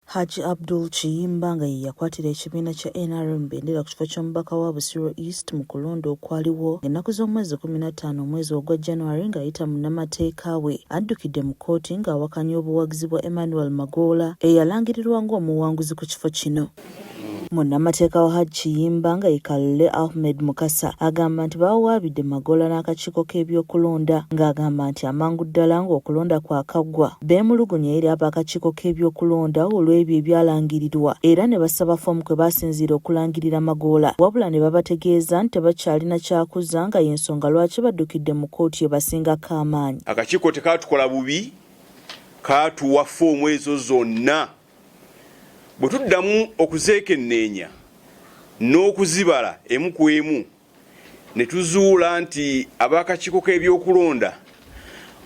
Hajji Abdul Kiyimba nga ye yakwatira ekibiina kya nrm bendera ku kifo ky'omubaka wa Busiro East mu kulonda okwaliwo ennaku z'omwezi kkumi na ttaano omwezi ogwa January ng'ayita munnamateeka we addukidde mu kkooti ng'awakanya obuwagizi bwa Emmanuel Magoola eyalangirirwa ng'omuwanguzi ku kifo kino. Munnamateeka wa Hajj Kiyimba nga ye Kalule Ahmed Mukasa agamba nti bawawaabidde Magoola n'akakiiko k'ebyokulonda ng'agamba nti amangu ddala ng'okulonda kwakaggwa beemulugunya eri ab'akakiiko k'ebyokulonda olw'ebyo ebyalangirirwa era ne basaba ffoomu kwe baasinziira okulangirira Magoola wabula ne babategeeza nti tebakyalina kyakuzza nga y'ensonga lwaki baddukidde mu kkooti ebasingako amaanyi. Akakiiko tekaatukola bubi kaatuwa ffoomu ezo zonna Bwe tuddamu okuzeekenneenya n'okuzibala emu ku emu ne tuzuula nti ab'akakiiko k'ebyokulonda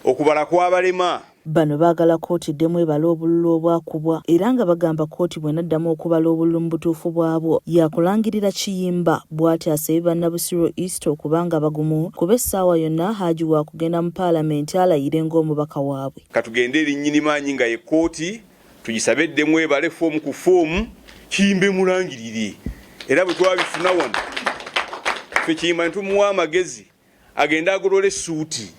okubala kwabalema. Bano baagala kkooti eddemu ebale obululu obwakubwa era nga bagamba kkooti bw'enaddamu okubala obululu mu butuufu bwabwo yaakulangirira Kiyimba bw'atyo asabye banna Busiro East okuba nga bagumu kuba essaawa yonna Haji waakugenda mu Palamenti alayire ng'omubaka waabwe. Katugende eri Nnyinimaanyi nga ye kkooti. tugisabe eddemu ebale foomu ku foomu kiyimbe mulangirire era bwe twabifuna wano fe kiyimba ne tumuwa amagezi agende agolola essuuti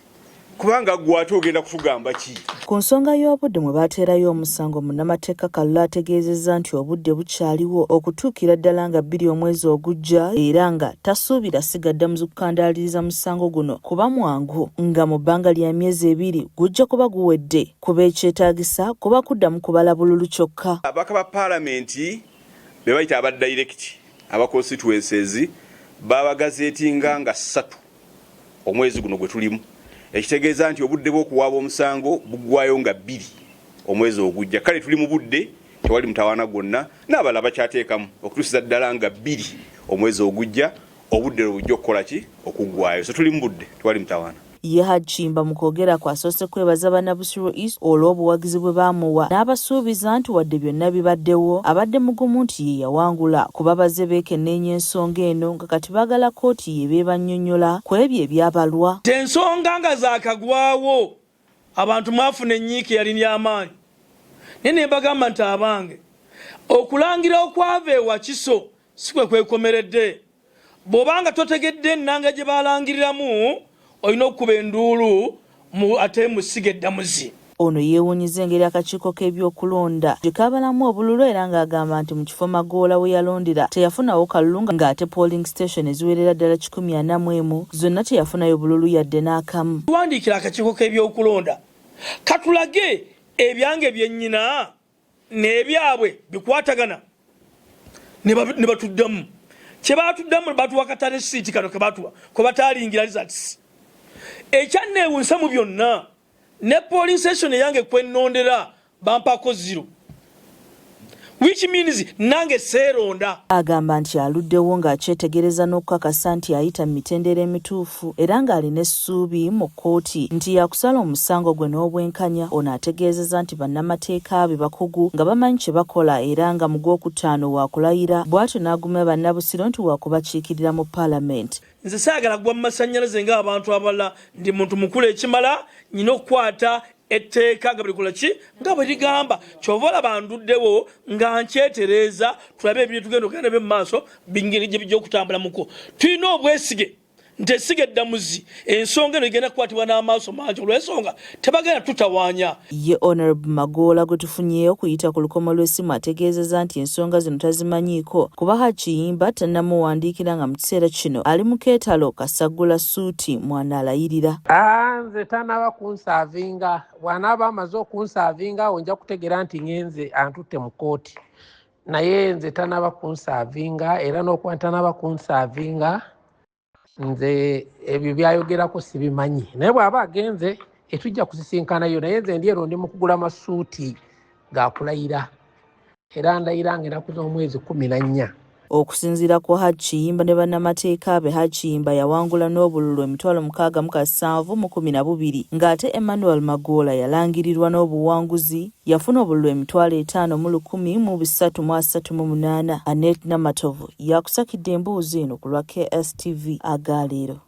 kubanga gwe ate ogenda kutugamba ki ku nsonga y'obudde mwe baateerayo omusango munnamateeka kallo ategeezezza nti obudde bukyaliwo okutuukira ddala nga bbiri omwezi ogujja era nga tasuubira sigadda mu zikukandaaliriza musango guno kuba mwangu nga mu bbanga lya myezi ebiri gujja kuba guwedde kuba ekyetaagisa kuba kuddamu kubala bululu kyokka. Ababaka ba Palamenti be bayita aba dayirekiti aba constituencies baabagazeetinga nga ssatu omwezi guno gwe tulimu ekitegeeza nti obudde bw'okuwaaba omusango buggwaayo nga bbiri omwezi ogujja kale tuli mu budde tewali mutawaana gwonna n'abalala bakyateekamu okutuusiza ddala nga bbiri omwezi ogujja Obudde lwe bujja okukola ki? Okuggwaayo. So tuli mu budde, tewali mutawaana. Ye Hajj Kimba mu kwogerakwe asoose kwebaza banna Busiro East olw'obuwagizi bwe baamuwa n'abasuubiza nti wadde byonna bibaddewo abadde mugumu nti ye yawangula kuba bazze beekenneenya ensonga eno nga kati baagala kkooti y'eba ebannyonnyola ku ebyo ebyabalwa. Ensonga nga zaakagwawo abantu mwafuna ennyiike yali ya maanyi naye ne mbagamba nti abange okulangirira okwava e Wakiso Si kwe kwekomeredde. Bw'oba nga totegedde ennanga gye balangiriramu, olina okukuba enduulu mu ate mu ssiga eddamuzi. Ono yeewuunyizza engeri akakiiko k'ebyokulonda gye kaabalamu obululu era ng'agamba nti mu kifo Magoola we yalondera teyafunawo kalulu ng'ate polling station eziwerera ddala kikumi ana mu emu zonna teyafunayo bululu yadde n'akamu. Tuwandiikire akakiiko k'ebyokulonda katulage ebyange bye nnina? nebyabwe bikwatagana nebatuddamu kyebatuddamu batuwa katale siiti kano kebatuwa kwebataalingira results ekyanneewunsa mu byonna ne polling station eyange kwenondera bampako zero which means nange seeronda agamba nti aluddewo ng'akyetegereza n'okukakasa nti ayita mu mitendera emituufu omunafu era ng'alina essuubi mu kkooti nti yakusala omusango gwe n'obwenkanya. Ono ategeezeza nti bannamateeka be bakugu nga bamanyi kye bakola era nga mu gw'okutaano wakulayira bwatyo n'agumya bannabusiro nti wakubakiikirira mu palamenti. Nze saagala kugwa mu masannyalaze nga abantu abalala, ndi muntu mukulu ekimala, nnyina okukwata etteeka nga bwelikola ki nga bwe ligamba kyova olaba nduddewo nga nkyetereeza tulabe ebintu tugenda okugenda nabyo mu maaso bingeri gye bijja okutambula muko tulina obwesige nti essiga eddamuzi ensonga eno igenda kukwatibwa n'amaaso mangi olw'ensonga tebagenda tutawaanya. Ye Honourable Magoola gwe tufunyeeyo okuyita ku lukomo lw'essimu ategeezezza nti ensonga zino tazimanyiiko kuba Hajj Kiyimba tannamuwandiikira nga mu kiseera kino ali mu keetalo kasaggula ssuuti mw'anaalayirira. Nze tanaaba kunsaavinga, bw'anaaba amaze okunsaavinga awo nja kutegeera nti ng'enze antutte mu kkooti. naye nze tanaba kunsaavinga era n'okuba ntanaba kunsaavinga nze ebyo byayogerako sibimanyi naye bw'aba agenze etujja kusisinkanayo naye nze ndi ero ndi mu kugula masuuti gakulayira era ndayira nga enaku z'omwezi kumi na nnya Okusinziira ku Hajj Kiyimba ne bannamateeka be, Hajj Kiyimba yawangula n'obululu emitwalo mukaaga mu kasanvu mu kumi na bubiri ng'ate Emmanuel Magoola yalangirirwa n'obuwanguzi yafuna obululu emitwalo etaano mu lukumi mu bisatu mu asatu mu munaana. Annet Namatovu y'akusakidde emboozi eno ku lwa KSTV aga leero.